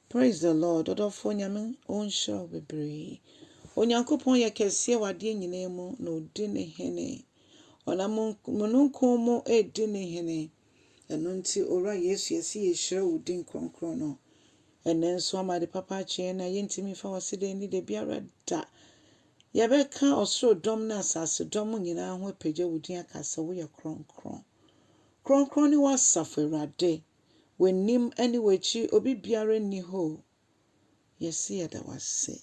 Praise the Lord ɔdɔfoɔ Nyame ɔnhyira wo bebree Onyankopɔn yɛ kɛseɛ wɔ adeɛ nyinaa mu na ɔdi ne hene ɔnam mununkum mu redi ne hene ɛno nti Owura Yesu yɛse yɛhyira wo din kronkron no ɛnɛ nso ama de papa akyɛ yɛn na yɛntumi mfa wase da ani da biara da yɛbɛka ɔsoro dɔm ne asase dɔm nyinaa ho apagya wo din aka sɛ woyɛ kronkron kronkron ne w'asafo Awurade W'anim ne w'akyi obi biara nni hɔ o, yɛse yɛda wo ase.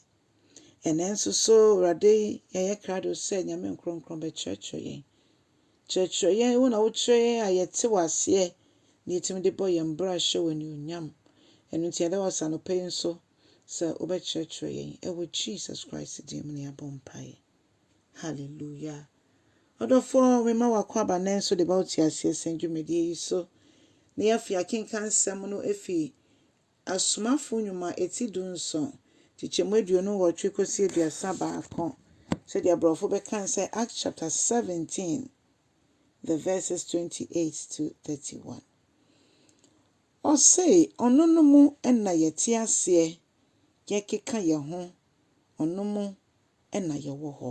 Ɛnnɛ nso so Awurade yɛyɛ krado sɛ Nyame nkorɔnkorɔn bɛkyerɛkyerɛ yɛn. Kyerɛkyerɛ yɛn, wo na wokyerɛ yɛn a yɛte wo aseɛ na yɛtumi de bɔ yɛn bra hyɛ wo anuonyam. Ɛno nti yɛda wo ase anɔpa yi nso sɛ wobɛkyerɛkyerɛ yɛn. Ɛwɔ Jesus Christ din mu na yɛabɔ mpaeɛ. Hallelujah. Ɔdɔfoɔ mema w'akwaaba nnɛ nso de ba wo teaseɛ sɛn dwumadie yi so. Ne afei akenkan nsɛm no efi Asomafoɔ nnwuma eti du nson, kyekyɛmu aduonu nnwɔtwe kɔsi aduasa baako, sɛdeɛ brɔfo bɛkan sɛ Acts chapter 17 the verses 28 to 31. Ɔsee ɔno no mu na yɛte aseɛ yɛkeka yɛn ho, ɔno mu na yɛwɔ hɔ.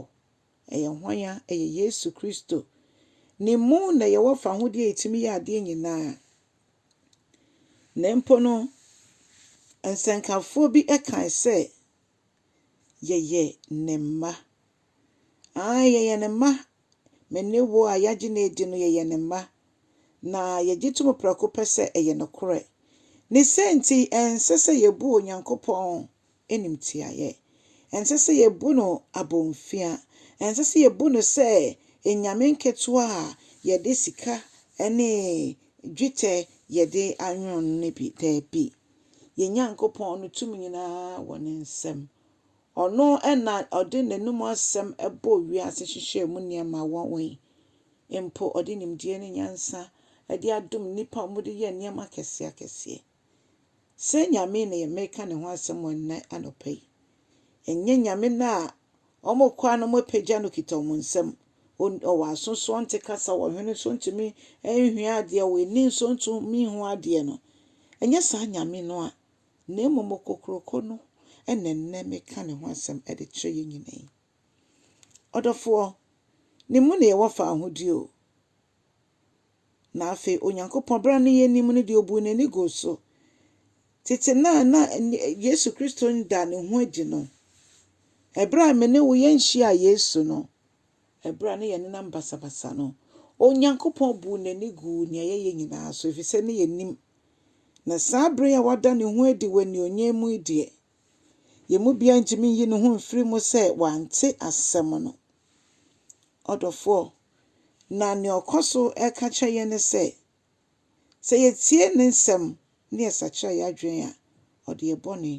Ɛyɛ hwan a? Ɛyɛ Yesu Kristo. Ne mu na yɛwɔ fahodie a ɛtumi yɛ adeɛ nyinaa. Na mpo no, nsɛnkafoɔ bi kae sɛ, Yɛyɛ ne mma. Aane, yɛyɛ ne mma. Me ne wo a yɛagye no adi no, yɛyɛ ne mma. Na yɛgye to mu prɛko pɛ sɛ ɛyɛ nokorɛ. Ne sɛ nti, ɛnsɛ sɛ yɛbu Onyankopɔn animtiaaeɛ. Ɛnsɛ sɛ yɛbu no abomfia. Ɛnsɛ sɛ yɛbu no sɛ anyame nketewa a yɛde sika ne dwetɛ yɛde anwono no no bi. Daabi. Yɛn Nyankopɔn no tumi nyinaa wɔ ne nsam. Ɔno na ɔde n'anom asɛm bɔɔ wiase hyehyɛɛ mu nneɛma wɔ wɔ yi. Mpo ɔde nimdeɛ ne nyansa de adom nnipa a wɔde yɛ nneɛma akɛseakɛseɛ. Sɛ Nyame na yɛreka ne ho asɛm wɔ nnɛ anɔpa yi, ɛnyɛ Nyame no a wɔkɔ a na wɔapagya no kita wɔn nsam. Ɔwɔ aso so ɔnte kasa, ɔwɔ hwene so ntumi nhwɛ adeɛ, ɔwɔ ani nso ntumi nhu adeɛ no. Ɛnyɛ saa Nyame no a, na mmom okokuroko no na nnɛ meka ne ho asɛm de kyerɛ yɛn nyinaa yi. Ɔdɔfoɔ, ne mu na yɛwɔ faahodie o. Na afei Onyankopɔn, bere a ne yɛn nim no deɛ, ɔbuu n'ani guu so. Tete no a na Yesu Kristo nda ne ho adi no, ɛberɛ a me ne wo yɛnhyiaa Yesu no, ɛberɛ a ne yɛn nenam basabasa no, Onyankopɔn buu n'ani guu nea yɛyɛ nyinaa so, ɛfiri sɛ ne yɛn nim. Na saa bere a wada ne ho adi wɔ anionyam mu yi deɛ, Yɛn mu biara ntumi nyi ne ho mfiri mu sɛ wante asɛm no. Ɔdɔfoɔ, na nea ɔkɔ so reka kyerɛ yɛn ne sɛ, sɛ yɛtie ne nsɛm na yɛsakyera yɛn adwene a, ɔde yɛn bɔne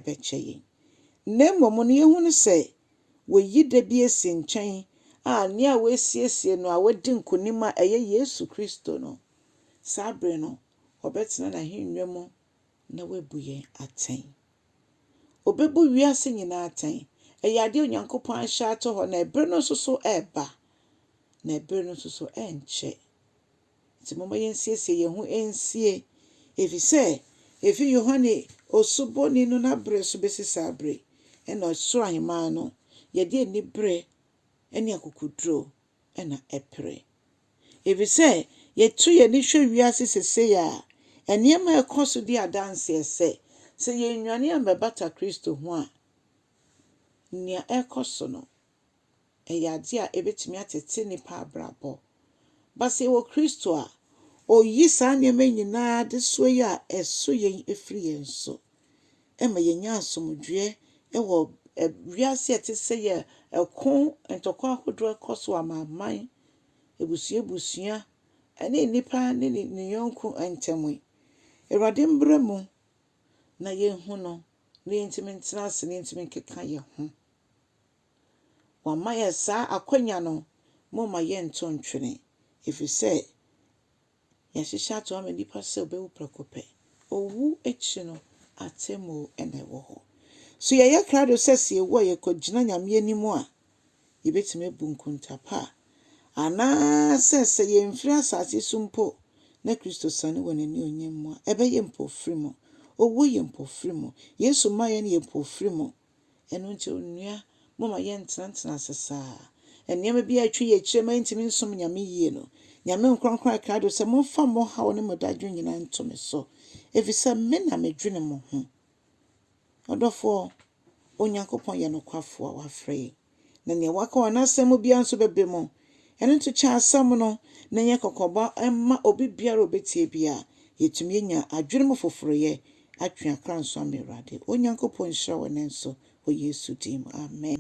bɛkyɛ yɛn. Na mmom no, yɛhu no sɛ wayi da bi asi nkyɛn a nea wasiesie no a wadi nkonim a ɛyɛ Yesu Kristo no, saa bere no ɔbɛtena n'ahennwa mu na wabu yɛn atɛn. Ɔbɛbu wiase nyinaa atɛn. Ɛyɛ adeɛ a Onyankopɔn ahyɛ ato hɔ, na ɛberɛ no nso so reba, na ɛberɛ no nso so ɛrenkyɛ. Nti momma yɛnsiesie yɛn ho nsie, ɛfiri sɛ ɛfiri Yohane Osubɔni no n'aberɛ so bɛsi saa berɛ yi, ɛna Soro Ahemman no, yɛde aniberɛ ne akokoɔduro na ɛpere. Efisɛ yetu yɛn ani hwɛ wiase seesei a, nneɛma a ɛkɔ so di adanse sɛ, sɛ yennwane ammɛbata Kristo ho a, nea ɛrekɔ so no, ɛyɛ ade a ebetumi atete nnipa abrabɔ. Ba sɛ yɛwɔ Kristo a, oyi saa nneɛma nyinaa adesoa yi a ɛso yɛn firi yɛn so. ɛma yɛnya asomdwoeɛ wɔ wiase a ɛte sɛ yɛ ɛko ntɔkwa ahodoɔ ɛkɔ so amanaman abusua abusua ɛne nnipa ne ne yɔnko ntam yi awurade mbra mu na yɛhu no na yɛntumi ntena ase na yɛntumi nkeka yɛn ho wɔama yɛ saa akwanya no mo ma yɛnto ntwene ɛfiri sɛ Yɛahyehyɛ ato hɔ ama nnipa sɛ wɔbɛwu prɛko pɛ. Owu akyi no, atemmu na ɛwɔ hɔ. So yɛyɛ krado sɛ sɛ yewu a yɛkɔgyina Nyame anim a, yebetumi abu nkonta pa? Anaasɛ sɛ yemfiri asase so mpo na Kristo siane wɔ n'anuonyam mu a, ɛbɛyɛ mpofirim? Owu yɛ mpofirim. Yesu mmaeɛ no yɛ mpofirim. Ɛno nti onua, momma yɛntenatena ase saa. Nneɛma bi a atwa yɛn akyiri a ɛma yentumi nsom Nyame yie no, Nyame nkorɔnkron a krado sɛ, Momfa mo haw ne mo dadwen nyinaa nto me so, efisɛ me na medwene mo ho. Ɔdɔfoɔ, Onyankopɔn yɛ nokwafo a wafrɛ yɛn. na nea waka wɔ n'asɛm mu biara nso bɛba mu. Ɛno nti kyɛ asɛm no, na ɛnyɛ kɔkɔbɔ mma obi biara a obetie biara. Yetumi anya adwene mu foforoyɛ, atwe akra nso ama Awurade. Onyankopɔn nhyira wo nnɛ nso, wɔ Yesu din mu, amen.